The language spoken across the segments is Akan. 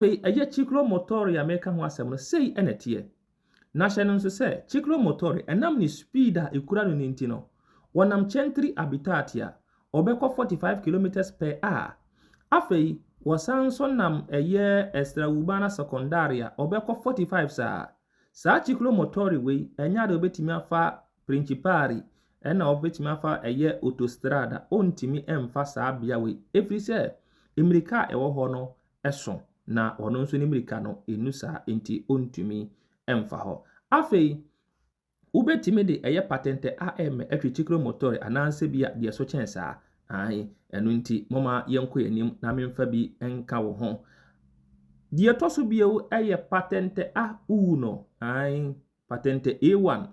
Afei ɛyɛ Ciclo Motore a mereka ho asɛm no, sei na ɛteɛ. Na hyɛ no nso sɛ, Ciclo Motore, ɛnam ne speed a ɛkura no no nti no, wɔnam Centri Abitati a, wɔbɛkɔ 45 kilometres per hour. Afei, wɔsan nso nam ɛyɛ Estra Urbana Secondari a, wɔbɛkɔ 45 saa. Saa Ciclo Motore wei, ɛnyɛ adeɛ wɔbɛtumi afa Principari, ɛna wɔbɛtumi afa ɛyɛ Autostrada, wɔntumi mfa saa bea wei, ɛfiri sɛ, mmirika a ɛwɔ hɔ no, so, na ɔno nso ne mmirika no nnu saa, enti ɔntumi mfa hɔ. Afei, wobɛtumi de ɛyɛ patente a ɛremmɛ atwi Chikro Motore anaasɛ bi a deɛ ɛso kyɛn saa. Ae, ɛno nti, momma yɛnkɔ yɛn anim na memfa bi nka wo ho. Deɛ ɛtɔ so bio yɛ patente a wowu no. Ae, patente A1,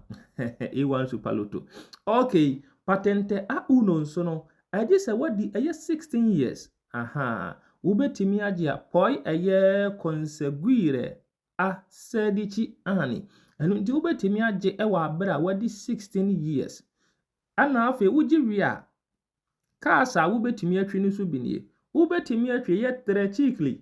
A1 Super Lotto. Okay, patente a wowu no nso no, ɛgye sɛ wadi ɛyɛ 16 years. Ahaa, wobɛtumi agye a pɔe ɛyɛ conseguire a sedici anni. Ɛno nti wobɛtumi agye wɔ abere a wadi 16 years. Ɛna afei wogye wie a, cars a wobɛtumi atwi no so bi nie. Wobɛtumi atwi yɛ tricicli,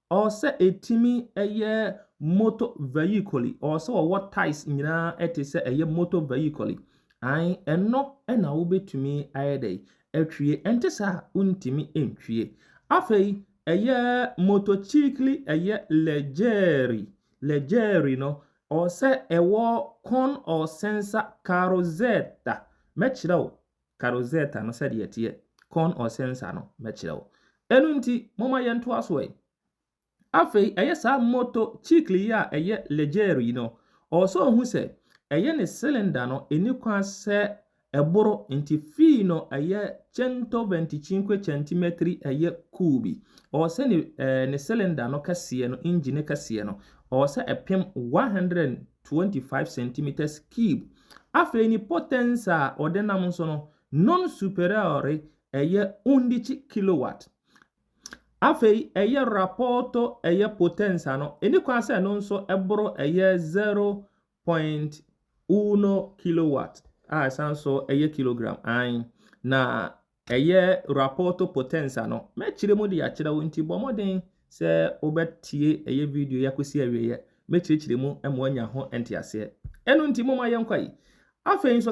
Ɔwɔ sɛ ɛtumi yɛ moto vehicle, ɔwɔ sɛ ɔwɔ ties nyinaa ɛte sɛ ɛyɛ moto vehicle. Ae, ɛno na wobɛtumi ayɛ dɛ atwie, ɛnte saa a wontumi ntwie. Afei, ɛyɛ motocicli ɛyɛ legeri, legeri no, ɔwɔ sɛ ɛwɔ con or sensor carrozeta. Mɛkyerɛ wo Ka Rosetta no sɛdeɛ ɛteɛ, Con or Sensa no, mɛkyerɛ wo. Ɛno nti, momma yɛntoa so ɛ. Afei, ɛyɛ saa moto cikli yi a ɛyɛ Leggero yi no, ɔwɔ sɛ ɔhu sɛ ɛyɛ ne cylinder no ɛnni kwan sɛ ɛboro, nti fii no ɛyɛ centoventicinque centimetri ɛyɛ kuubi. Ɔwɔ sɛ ne, eh, ne cylinder no kɛseɛ no, engine kɛseɛ no, ɔwɔ sɛ ɛpem 125 centimeters cube. Afei ne potensa a ɔde nam nso no, non superiore ɛyɛ undici kilowatt. Afei ɛyɛ rapporto ɛyɛ potensa no, ɛni kwan sɛ ɛno nso ɛboro ɛyɛ 0.1 kilowatt a ɛsan nso ɛyɛ kilogram, ae, na Ɛyɛ Rapporto Potenza no. Mɛkyerɛ mu de akyerɛ wo, nti bɔ mmɔden sɛ wobɛtie ɛyɛ video yi akɔsi awieɛ. Mɛkyerɛkyerɛ mu ma woanya ho nteaseɛ. Ɛno nti, momma yɛnkɔ yi. Afei nso,